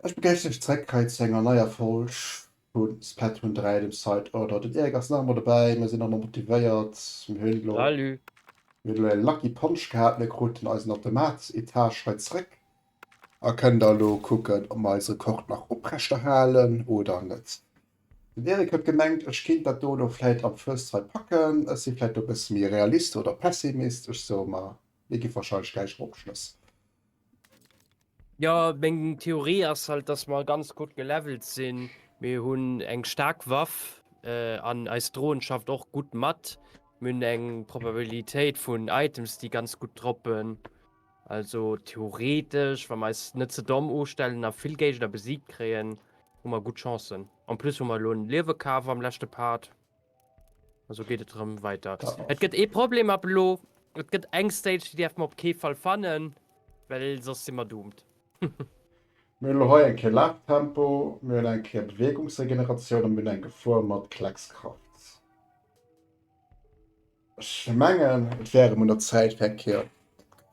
Ech begréissen iech zréck hei zu enger neier Folg vu Splatoon 3, dem Side Order. Den Eric ass nach emol dobäi, mir sinn nach emol motivéiert. Mir hunn elo elo e lucky Punch gehat, mir kruten eisen Automat-Etage hei zréck a kënnen da elo kucken, ob mer eis Rekord nach oprechterhalen oder net. Den Eric huet gemengt, ech kéint dat do elo vläit am First Try packen. Ech si vläit do e bësse méi Realist oder Pessimist, ech soe mer, mir gi warscheinlech gläich eropschloss. Jo, meng Theorie ass halt, dass mer ganz gutt gelevelt sinn. Mir hunn eng staark Waff äh, an eis Drohnen schafft och gutt mat. Mir hunn eng Probabilitéit vun Items, déi ganz gutt droppen. Also theoretisch, wann wir eis net ze domm ustellen a vill Géigner besiegt kréien, hu mer gutt Chancen. En plus hu mer elo en Liewe kaf am leschte Part. Also geet et rëm weiter. Et gëtt ee Problem ab elo. Et gëtt eng Stage, déi däerf mer op kee Fall fannen, well soss si mer doomed. Mir hunn elo hei eng Kéier Laftempo, mir hunn eng Kéier Beweegungsregeneratioun a mir hunn eng Gefor mat Kleckskraft. Ech mengen, et wär erëm un der Zäit, fir eng Kéier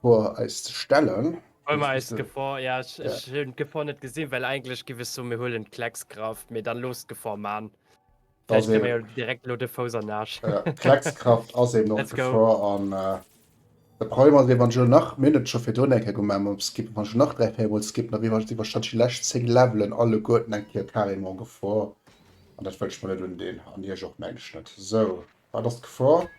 d'Gefor eis ze stellen. Huele mer eis d'Gefor. Jo, ech hunn d'Gefor net gesinn, well eigentlech giff ech soen, mir huelen d'Kleckskraft. Mee dann looss d'Gefor man. Vläicht kréie mer jo direkt elo de Fouss an den Aarsch. D'Kleckskraft ass eben och d'Gefor. An de Problem ass eben, wann ech elo nach, mir hunn et scho virdrun eng Kéier gemaach mam Skippen, wann ech elo nach dräi, véier Mol skippen, da wier ech iwwer wahrscheinlech déi lescht zéng Levelen alleguerten eng Kéier carrément Gefor. An dat wëll ech mer net undinn. An iech och, meng ech, net. Sou. Wat ass d'Gefor?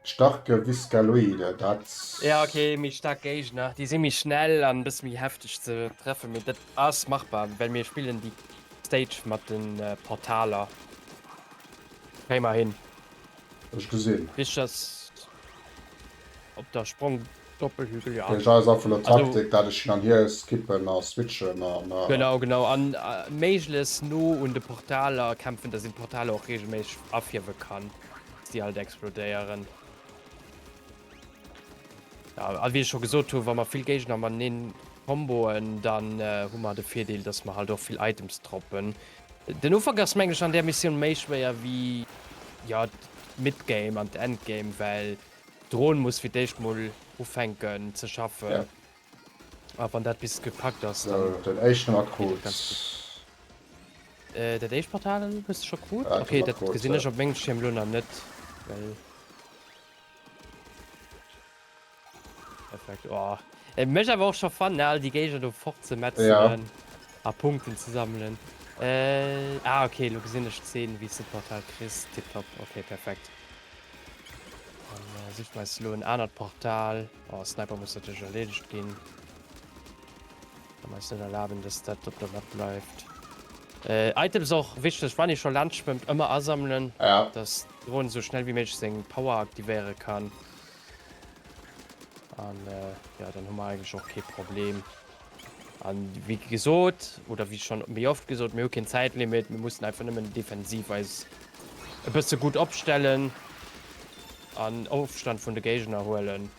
D'starke Viscaloide, dat. Ja ok, méi staark Géigner, déi si méi schnell an bësse méi hefteg ze treffen, mee dat ass machbar, well mir spillen déi Stage mat de Portaler. Kréie mer hin. Ech gesinn. Wichteg ass op der Sprong. Doppelhügel jo. Deen Jeu ass einfach lo Taktik, dat ech hin an hier skippen a switchen a. Genau, genau, an méiglechst no un de Portaler kämpfen, dass een d'Portaler och regelméisseg afierwe kann, dass déi alt explodéieren. Ja, a wéi ech scho gesot hu, wa mer vill Géigner mateneen comboen, dann hu mer de Virdeel, dass mer halt och vill Items droppen. Den Ufank ass meng ech an där Missioun méi schwéier wéi, ja, d'Midgame an d'Endgame, well Dron muss fir d'éischt mol ufänken ze schaffen a wann dat bis gepackt ass dann sou den éischten mat krut. Dat éischt Portal hues de scho krut? Okay dat gesinn ech op mengem Schierm lo nach net well perfekt oh et mech awer och scho fannen all déi Géigner do fort ze metzelen a Punkten ze sammelen ah okay lo gesinn ech d'Zeen wéis de d'Portal kriss tipptopp okay perfekt. Sicht mei lo en anert Portal oh, Sniper muss natürlich erledigt gin meist net erlaben dass dat op der Wand bleibt äh, Items och wichtig wann ich schon Land schwimmt immer asammeln ja. dass drohen so schnell wie méch seng Power aktivéiere kann an äh, ja dann hu mer eigentlich och ke Problem A wéi gesot, oder wéi schonn méi oft gesot, mir hu keen Zäitlimit, mir mussen einfach nëmmen defensiv eis e bësse gutt opstellen an Ofstand vun de Géigner huelen.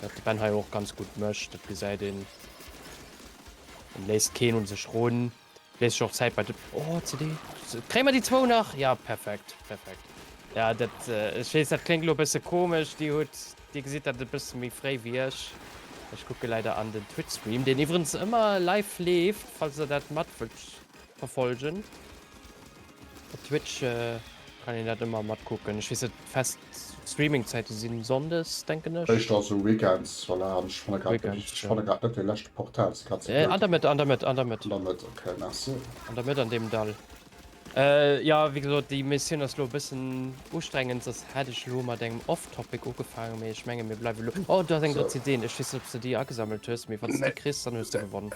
Wat de Ben hei och ganz gutt mécht, dat gesäit een. En léisst keen un sech run. Léisst sech och Zäit bei de. Oh CD. Kréie mer déi zwou nach? Jo, perfekt, perfekt. Jo, dat, ech weess, dat kléngt elo e bësse komesch. Dir hutt, Dir gesitt dat e bësse méi fréi wéi ech. Ech kucke leider an den Twitch-Stream, deen iwwerens ëmmer live leeft, falls der dat mat wëllt verfolgen. Op Twitch kann een dat ëmmer matkucken. Ech weess net, fest Streamingzäite si Sonndes, denken ech. Éischter esou Weekends, voilà. An ech fanne grad net richteg, ech fanne grad net dee leschte Portal, se grad ze bléid. An der Mëtt, an der Mëtt, an der Mëtt. An der Mëtt, ok, merci. An der Mëtt an deem Dall. Jo, wéi gesot, déi Missioun ass elo e bëssen ustrengend, soss hätt ech elo mat engem Off-Topic ugefaangen, mee ech menge mir bleiwe elo. Oh, do ass eng Drëtzideeën, ech weess net, ob s de déi agesammelt hues, mee wann s de déi kriss, dann hues de gewonnen.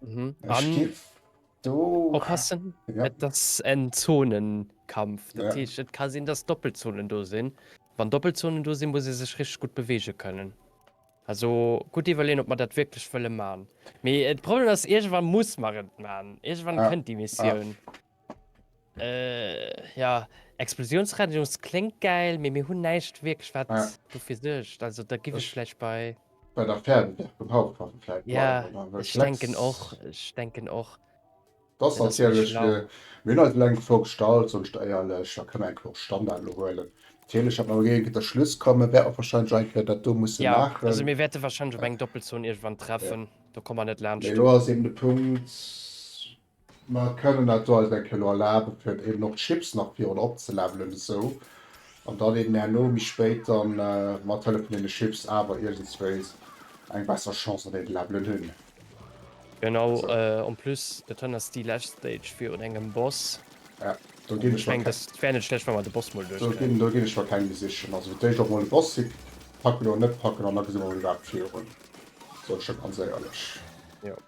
Mhm. Ech gif do oppassen, ja. Et ass en Zonenkampf. Dat ja. heescht, et ka sinn, dass Doppelzonen do sinn. Wann Doppelzonen do sinn, muss e sech rich gut bewege kënnen. Also gut iwwerleen, ob man dat wirklich wëlle man. Mee et Problem ass, irgendwann muss man et man. Irgendwann ja. kënnt die Missioun. Ja. Äh, ja, Explosionsradius kléngt gäil, mee mir hunn näischt wierklech, wat Ja. dofir suergt. Also, da giff ech Ech- vläicht bei. Bei der Fernseewerk um Hauptwache vläicht Ja, bleiwen, oder? Well ech Flex- denken och, ech denken och. Dat ass Ja, dat wär natierlech schlau. fir. Mir hunn eis elo eng Gefor bestallt, sonst éierlech, da kënne mer enke och Standard elo huelen. Natierlech, datt mer elo géinge de Schluss kommen, wäert och wahrscheinlech eng Kéier dat do musse Ja, maachen. also mir wäerte wahrscheinlech op eng Doppelzon iergendwann treffen, do komme mer net laanscht. Mee elo ass eben de Punkt. Mer kënnen dat do eis eng Kéier elo erlaben, fir eben och d'Chips nach virun opzelevelen esou, an dann eben herno méi spéit dann mat Hëllef vun deene Chips awer iergendswéis eng besser Chance an deene Levelen hunn. Genau, en plus dat han ass déi lescht Stage virun engem Boss. Ja, do ginn ech mer keng. Ech mengen dat wär net schlecht wann mer de Boss mol duerch kréien. Do ginn ech mer keng méi sichen. Also fir d'éischt och mol e Boss sic packen oder net packen an da gesi mer mol iwwerhaapt virun, soen ech der ganz éierlech. Jo.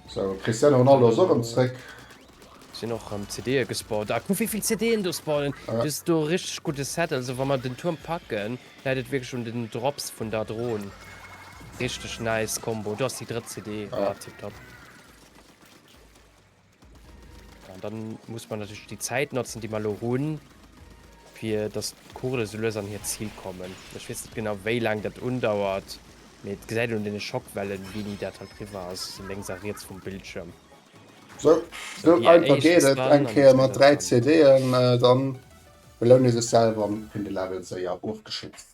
So Cristiano Ronaldo ass och rem zréck. Sinn och rem CD'en gespawnt. Ah kuck wéivill CD'en do spawnen. Dat ass do e richteg gudde Set. Also wa mer den Tuerm packen, läit et wierklech un den Drops vun der Dron. Richteg nice Combo. Do ass déi drëtt CD. Ah tipptopp. An dann muss man natürlich die Zeit notzen, die man lo hunn, fir dass d'Kugele so lues an hiert Zil kommen. Ech weess net genau wéi laang dat undauert, mee et gesäit een un deene Schockwellen, wéini dat halt riwwer ass, sou lénks a riets vum Bildschirm. Sou, sou einfach geet et eng Kéier mat 3 CD'en, dann beloun ee sech selwer an hunn de Level séier ofgeschloss.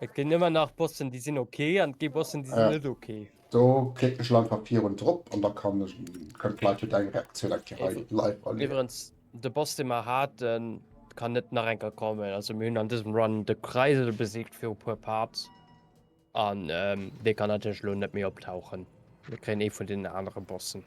Et ginn ëmmer nach Bossen déi sinn ok an et gi Bossen déi sinn net ok. Do klicke ech lo einfach virun drop an da kann ech kënnt d'Leit jo deng Reaktioun eng Kéier hei live erliewen. Iwwerens de Boss dee mer haten kann net nach eng Kéier kommen, also mir hunn an dësem Run de Kreisel besiegt fir e puer Parts an dee kann natierlech lo net méi optauchen. Mir kréien ee vun deenen anere Bossen.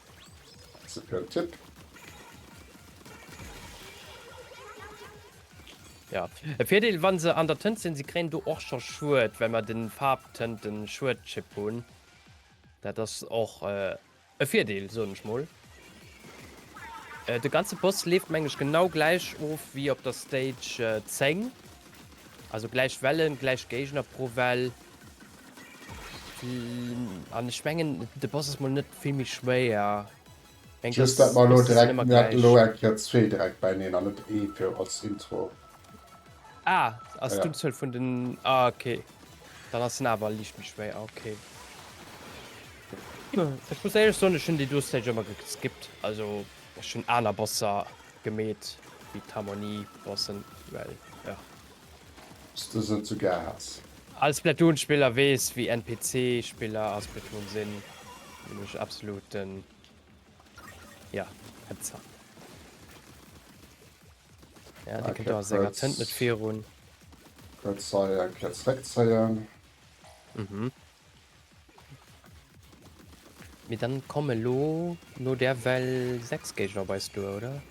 Merci fir den Tipp. Ja. E Virdeel, wann se an der Tënt sinn, se kréien do och scho Schued, well mer den Farbtënten Schuedchip hunn. Dat ass och äh, e Virdeel, soen ech mol. Äh, de ganze Boss leeft meng ech genau gläich of wéi op der Stage äh, 10. Also gläich Wellen, gläich Géigner pro Well. An ech mengen de Boss ass mol net vill méi schwéier. Eng Just dat mal lo direkt mir hatten lo eng Kéier zwee direkt beieneen an net ee fir als Intro. Ah, ass d'Unzuel vun den. Ah ok. Dann ass en awer liicht méi schwéier, ok. Ech muss éierlech soen, ech hunn déi do Stage ëmmer geskippt. Also ech hunn aner Bosser gemeet wéi d'Harmonie-Bossen, well jo. s de se zu gär häss. All Splatoon Spiller wees wéi NPC Spiller a Splatoon sinn, nämlech absoluten jo Hetzer. Ja dee kënnt awer senger Tënt net virun. Kuerz hei eng Kéier zréckzéien. Mhm. Mee dann kommen elo no där Well 6 Géigner op eis duer, oder?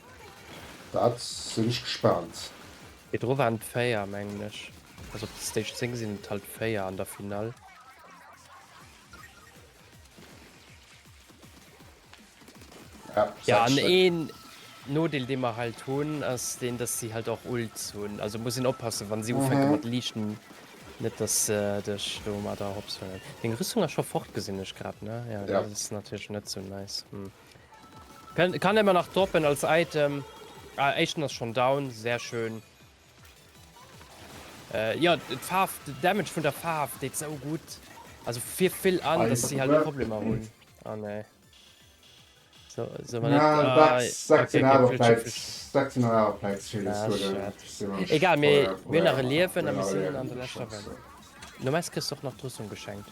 Dat sinn ech gespaant. Virdru waren et 4, mengen ech. Also op der Stage 10 sinn et halt 4 an der Finall. Ja, ja an een Nodeel de mer halt hunn ass den, dass sie halt och Ults hunn. Also muss een oppassen, wann sie ufänke mhm. mat liichten net dass äh, dech do mat der hops huelen. Deng Rüstung as scho fort gesinn ech grad ne ja, ja. dat is natürlich net so nice. Hm. Kann, kann immer nach droppen als Item. Ah, Echten ass schon down, sehr schön. Jo d'Faarf, de Damage vun der Faarf deet sou gutt. Also fir vill an, dass si halt Problemer hunn. Oh nee. So, so war Egal mé mir nach e Liewen a mir sinn an der leschter Welt. No mes kriss och nach d'Rüstung geschenkt.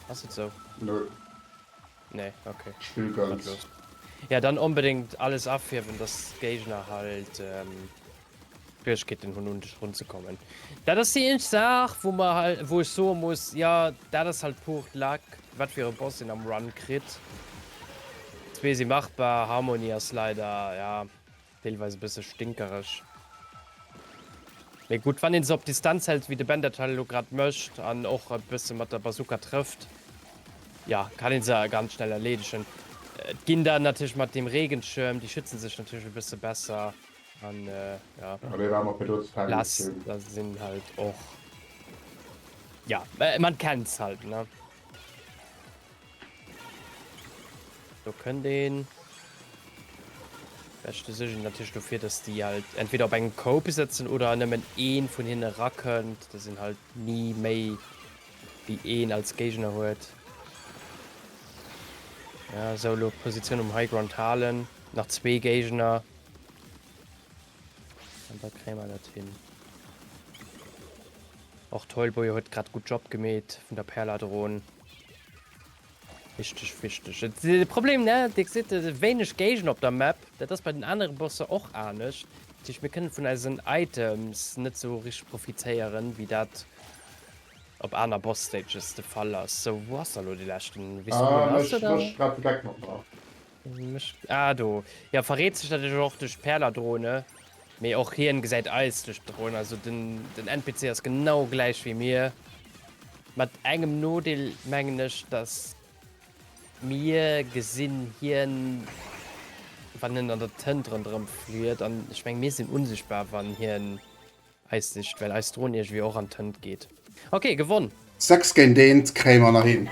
Ass et sou? Nö. Nee, okay. Spill ganz. Ja, dann unbedingt alles afirben, dass Gegner halt ähm, Schwierigkeiten hun un dich runzukommen. Da das die eng Saach, wo man halt, wo ich so muss, ja da das halt pur Lack, wat für Boss den am Run krit. Zwee sie machbar, Harmonie as leider ja. Deelweis e bësse stinkereg. Mee gutt, wann ee se op Distanz hält, wéi de Ben dat elo grad mécht, an och e bësse mat der Bazooka trëfft, jo, kann ee se ganz schnell erleedegen. Et ginn dann natierlech mat deem Regenschirm, déi schützen sech natierlech e bësse besser. An jo, Blaster sinn halt och, jo, man kennt se halt, ne. Do kënnt een. Beste Sichen natürlich dofir, dass déi halt entweder op engem Cope sëtzen oder nëmmen een vun hinne rakënnt. Dat sinn halt ni méi wéi een als Géigner huet. Ja, sou lo Position um Highground halen. Nach zwee Géigner. An da kréie mer dat hin. Och Toyboy huet grad gutt Job gemeet vun der Perladrone. Wichteg, wichteg. De Problem, ne, Dir gesitt wéineg Géigner op der Map. Dat ass bei den anere Bosser och anescht. Dat heescht, mir kënne vun eisen Items net esou richteg profitéieren, wéi dat op aner Boss-Stages de Fall ass. Sou, wou ass da elo dee leschten? Weess du, wou en ass, oder? Ech méche grad de Gag mat mer. Ah, do. Ja, verréet sech natürlich och durch Perladrone. Mee och hien gesäit eis durch d'Drone. Also den, den NPC ass genau gläich wéi mir. Mat engem Nodeel mengen ech, dass mir gesinn hien, wann en an der Tënt ronderëm fliet. An ech meng, mir sinn unsichtbar, wann hien. Eis sicht well eis Drohn iergewéi och an d'Hënt geet. Ok gewonn! 6 géint 1 kréie mer nach hin.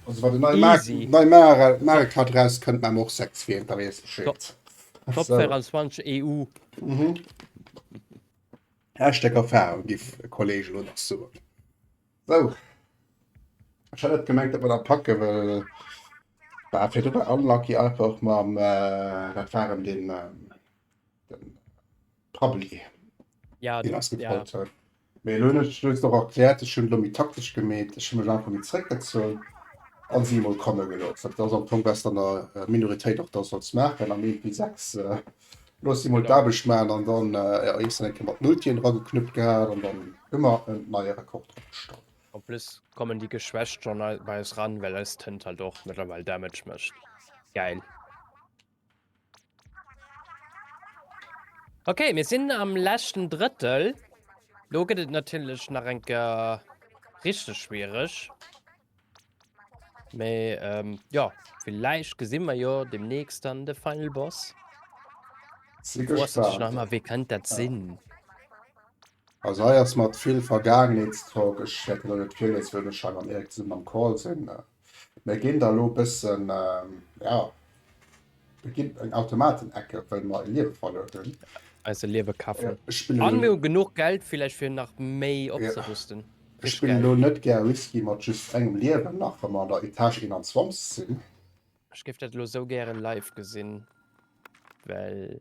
Also wann den nei Mario Kart eraus kënnt maache mer och 6 fir hien, da weess Bescheed. Top 24 EU. Hashtag Erfahrung gi e Kollege elo nach soen. Sou. Ech hat net gemengt, datt mer dat packe well war fir drëwer unlucky einfach mam dat war en den. Prabbeli. Ja, Den ass ja. gefrot huet. Mee elo hunn ech lo och erkläert, ech hunn elo méi taktesch gemeet, ech hu mech einfach méi zréckgezunn a si emol komme gelooss. Dat ass am Fong besser an der Minoritéit och dat sollts maachen, am Eent wéi sechs. Looss si emol Genau. d'Aarbecht maachen an dann, jo, iech dann eng Kéier mat Multien drageknuppt gehat an dann hu mer en neie Rekord opgestallt. En plus kommen déi geschwächt schonn ei bei eis ran, well eis Tënt halt och mëttlerweil Damage mécht. Gäil. Okay, mir sinn am leschten Drëttel. Lo gëtt et natierlech nach eng Kéier richteg schwiereg. Mee ähm, ja, villäicht gesi mer jo demnächst dann de Final Boss. Sinn Wosst ech nach gespaant. mal, wee kënnt dat sinn? Also hei ass mat vill Vergaangenheetstalk. Ech wäert elo net virliesen, well ech hei mam Erik zesummen am Call sinn. Mir ginn da elo e bëssen, jo, mir ginn eng Automaten-Ecke, well mer e Liewe verluer hunn. Eis e Liewe kafen. Ech spillen elo. A mir hu genuch Geld villäicht, fir nach méi opzerüsten. Ech spillen elo net gär Risky mat just engem Liewen, nach wa mer an der Etage 21 sinn. Ech géif dat elo esou gären live gesinn, well.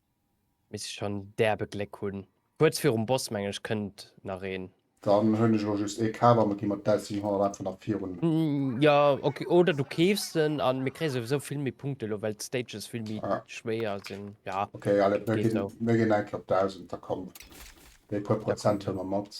Misst ech schon derbe Gléck hunn. Kuerz virum Boss mengen ech kënnt nach een. Dann hunn ech elo just ee kaf a mer gi mat 1700 einfach nach virun. Jo ok, oder du keefs en an mir kréie souwisou vill méi Punkte elo well d'Stages vill méi schwéier sinn. Jo ok, allez mir ginn eng Kéier op 1000, da komm déi puer Prozent huele mer mat.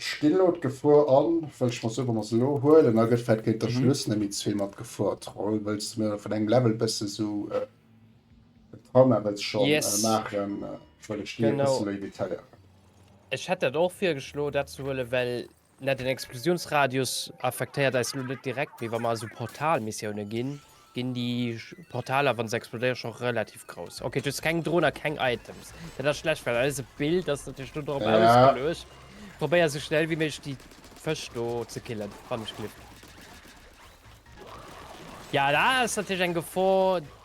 Ech ginn elo d'Gefor an, well ech mer soe wa mer se elo huelen, da gëtt vläicht géint der Schluss nëmme zwee mat Gefor troll, wëlls de mir vun engem Level bësse sou en Trauma wëlls scho maachen, wëll ech déi e bësse méi detailéieren. Ech hätt dat och virgeschloen, dat ze huelen, well Net den Explosionsradius affektéiert eis lo net direkt, mee wa mer esou Portalmissioune ginn, ginn déi Portaler, wann se explodéiere, scho relativ grouss. Okay, just keng Dronen a keng Items. Dat ass schlecht, well eise Build ass natierlech do drop ja. ausgeluecht. Probéier esou schnell wéi méiglech déi Fësch do ze killen, wann ech gliff. Ja, dat ass natierlech eng Gefor.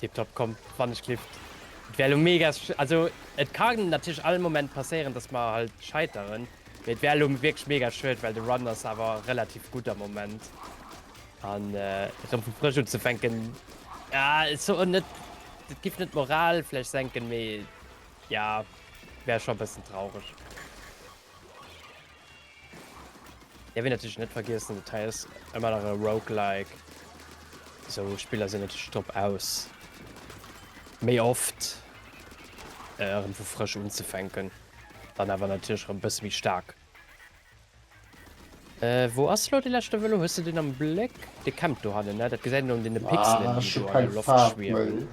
Tip top, komm wann ech klipp. Et wär lo mega, also et ka natierlech all Moment passéieren dass mer halt scheiteren, mee et wär lo wierklech mega schued, well de Run ass awer relativ gutt am Moment an erëm vu frësch unzefänken, ah ech soen net, dat giff net d'Moral vläicht senken, mee jo wär scho e bëssen traureg. Ja wéi natierlech net vergiessen, dat hei ass ëmmer nach e Roguelike, esou Spiller sinn natierlech drop aus méi oft erëm vu frësch unzefänken, dann awer natierlech erëm e bësse méi staark. Äh wou ass elo dee leschte Vëlo? Hues de deen am Bléck? Dee campt do hannen, ne? Dat gesäit een un deene Pixelen, déi do an der Loft schwiewen. Ah ech hunn keng Faarf méi.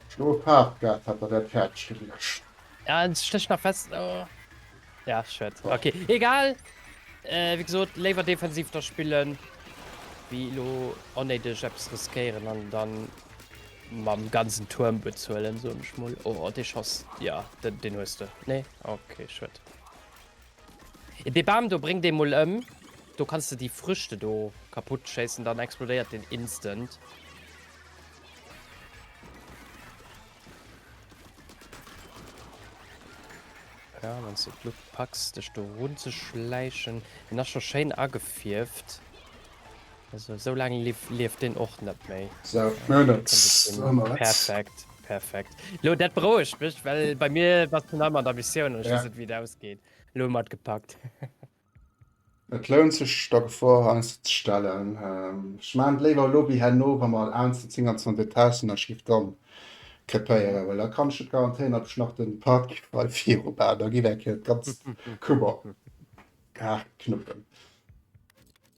Ech hunn elo e Faarfpad, hat der dat fäerdeg geluecht. Ja, en stécht nach fest. Oh. Ja, shit. Okay, egal. Äh, wie gesagt, léiwer defensiv da spillen. Wie lo onnéideg etwas riskéieren an dann mam ganzen Turm bezuelen, so ich mal. Oh, de Schoss. Ja, den, den hues du. Nee? Okay, shit. De Bam, do bringt den mol ëm. Do kannst du die Früchte do kaputt schießen, dann explodiert den instant. Ja, wann du die Luft packst, dich da runzuschleichen. Den ist schon schön angefierft. Also, so lange lief, lief den auch nicht mehr. So, ja, das perfekt, perfekt. Lo, das brauche ich, weil bei mir was du noch mal der Mission und ich ja. weiß nicht, wie das ausgeht. Lo, mal gepackt. Et lount sech der Gefor heiansdo ze stellen. Ech maachen et léiwer elo wéi herno, wa mer al 127 Détaillen Aschrift dran krepéieren, well da kann ech et garantéieren, datt ech nach den Parking frei viru bauen, da geet eng Kéier d'ganzt Kummer. Haarknuppen.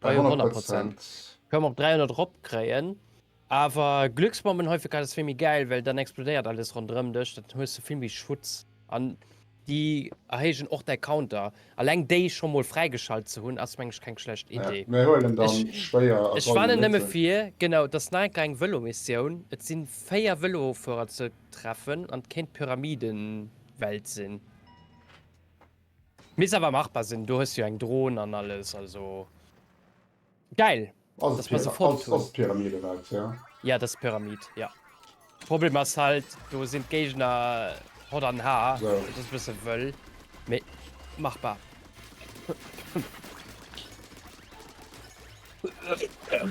Bei 100 Prozent. Koum op 300 rop kréien. Awer Glücksbomben hei fir grad ass vill méi gäil, well dann explodéiert alles ronderëm dech, dann hues de vill méi Schutz an déi erhéijen och däi Counter. Alleng déi scho mol fräigeschalt ze hunn ass meng ech keng schlecht Idee. Mir huelen dann schwéier a solle Mëtten. Ech warnen nëmme vir, genau, dass nach eng kleng Vëlomissioun, et sinn 4 Vëlofuerer ze treffen an et kéint d'Pyramidenwelt sinn. Misst awer machbar sinn, do hues du jo eng Drohn an alles, also geil dass mer se fonnt hunn. Ass d'Pyramid eraus, ja? Ja dat ass d'Pyramid, ja. Problem ass halt, do sinn d'Géigner Hott an Har, dat ass e bësse wëll, mee machbar.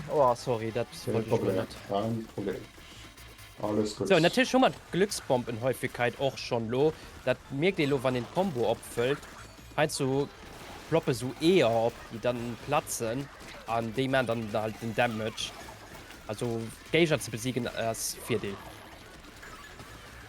Oh, sorry, dat wollte ich mir net. Kein Problem. Alles gut. So, natürlich schon mal Glücksbombenhäufigkeit auch schon lo. Das merkt ihr lo, wann den Combo abfüllt. Halt so ploppe so eher ab, die dann platzen. An die machen dann halt den Damage. Also Geiger zu besiegen ist Vierdeel.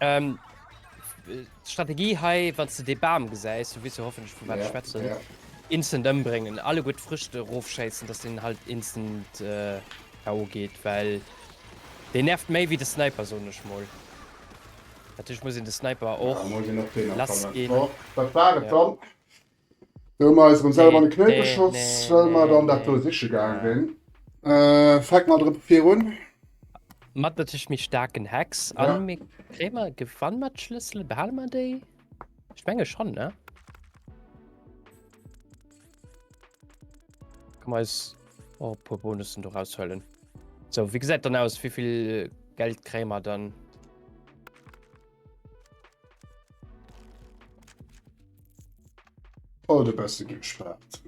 Ähm, Strategie hei wann du de Bam gesäis du wis hoffen vu wat schwätzen ja. instant ëmbringen alle gut frischte Rofschätzen dass den halt instant äh, geht weil den nervt méi wie de Sniper so nech moll Datch muss de Sniper och ja, lass gin. Oh, Do hun mer eis erem selwer an de Knéi geschoss well mer dann dat do siche gaang sin. Fänkt mat erem vir un. Mat natierlech méi staarken Hex an ja. Mir kréie mer gewann mat Schlëssel behale mer déi? Ech menge schon ne? Komm eis oh, puer Bonussen do raushëllen. So wie gesäit dann aus wievill Geld kréie mer dann? Oh, de beste gespaart.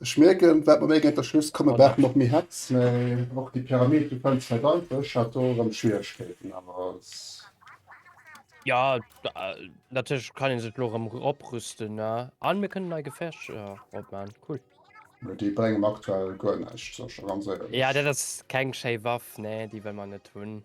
Ech merken wat mé gët der Schluss komme war noch mé het och die Pyramid du fan ze danke Chatoren Schwierkeeten awer. Ja datch kann een se lorem oprüsten ne an mir kënnen nei gefecht op man cool. Mä déi brengen aktuell guer näischt. Ja dat ass keng schéi Waff nee déi wëll mer net hunn.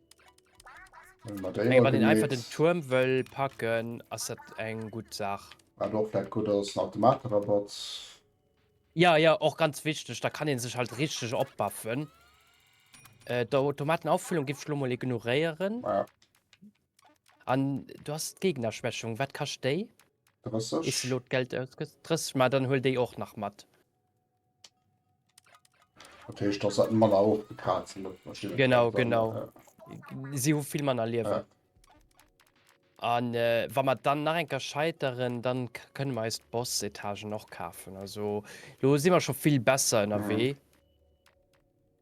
Eng mat den einfach den Turm wëll packen ass dat eng gut Saach. Wat och dat gutt ass nach de Materabatt. Ja ja och ganz wichteg, da kann een sech halt richteg opbaffen. Äh, d'Automatenauffüllung giff ech lo mol ignoréieren. Ja. An du hast d'Gegnerschwächung, wat kascht déi? 30. Is lo d'Geld ausgëss? 30, ma dann huel déi och nach mat. Dat heescht, dass dat Manner och bekazen huet, wahrscheinlich. Genau, dann, genau. Äh, Si hu vill Manner liewen. Äh. An äh, wa mat dann nach enker scheiteren, dann kënne mer eist Boss-Etagen och kafen. Also lo si mer scho vill besser ënnerwee. Mhm.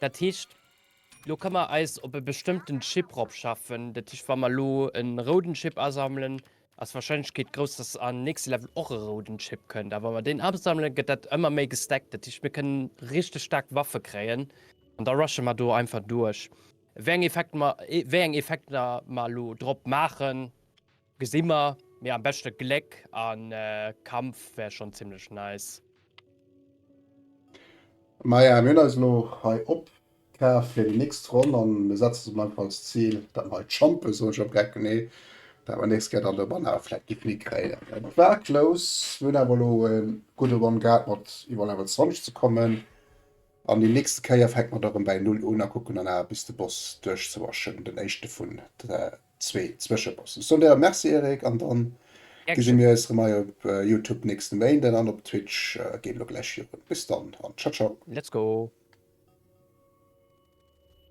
Dat heescht, elo ka mer eis op e bestëmmten Chip ropschaffen. Dat heescht, wa mer elo e rouden Chip asammelen, ass d'Warscheinlechkeet grouss, dass am nächste Level och e rouden Chip kënnt. A wa mer deen asammelen, gëtt dat ëmmer méi gestackt. Dat heescht, mir kënnen richteg staark Waffe kréien. An da rushe mer do einfach duerch. Wéi eng Effekter mer elo drop maachen, Gesin mer, mee am beschten Gléck an Kampf wär schon zimlech nice. Maja, mir hunn eis elo hei opkaf fir déi nächst Ronn a mir setzen eis einfach als Zil, dat mer hei d'Champe, soen ech am Gecken, nee, dat mer nächst Kéier dann de Banner vläit giff hikréien. Et war close, mir hunn awer elo e gudde Run gehat, mat iwwerall awer 20 ze kommen an déi nächst Kéier fänke mer da rëm bäi Null un a kucken dann awer bis de Boss duerchzerushen, den éischte vun zwee Zwëscheposten. Ech soen dir Merci Eric an dann gesi mir eis rem hei op Youtube nächste Méinden an op Twitch geet lo gläich virun. Bis dann an ciao ciao. Let's go.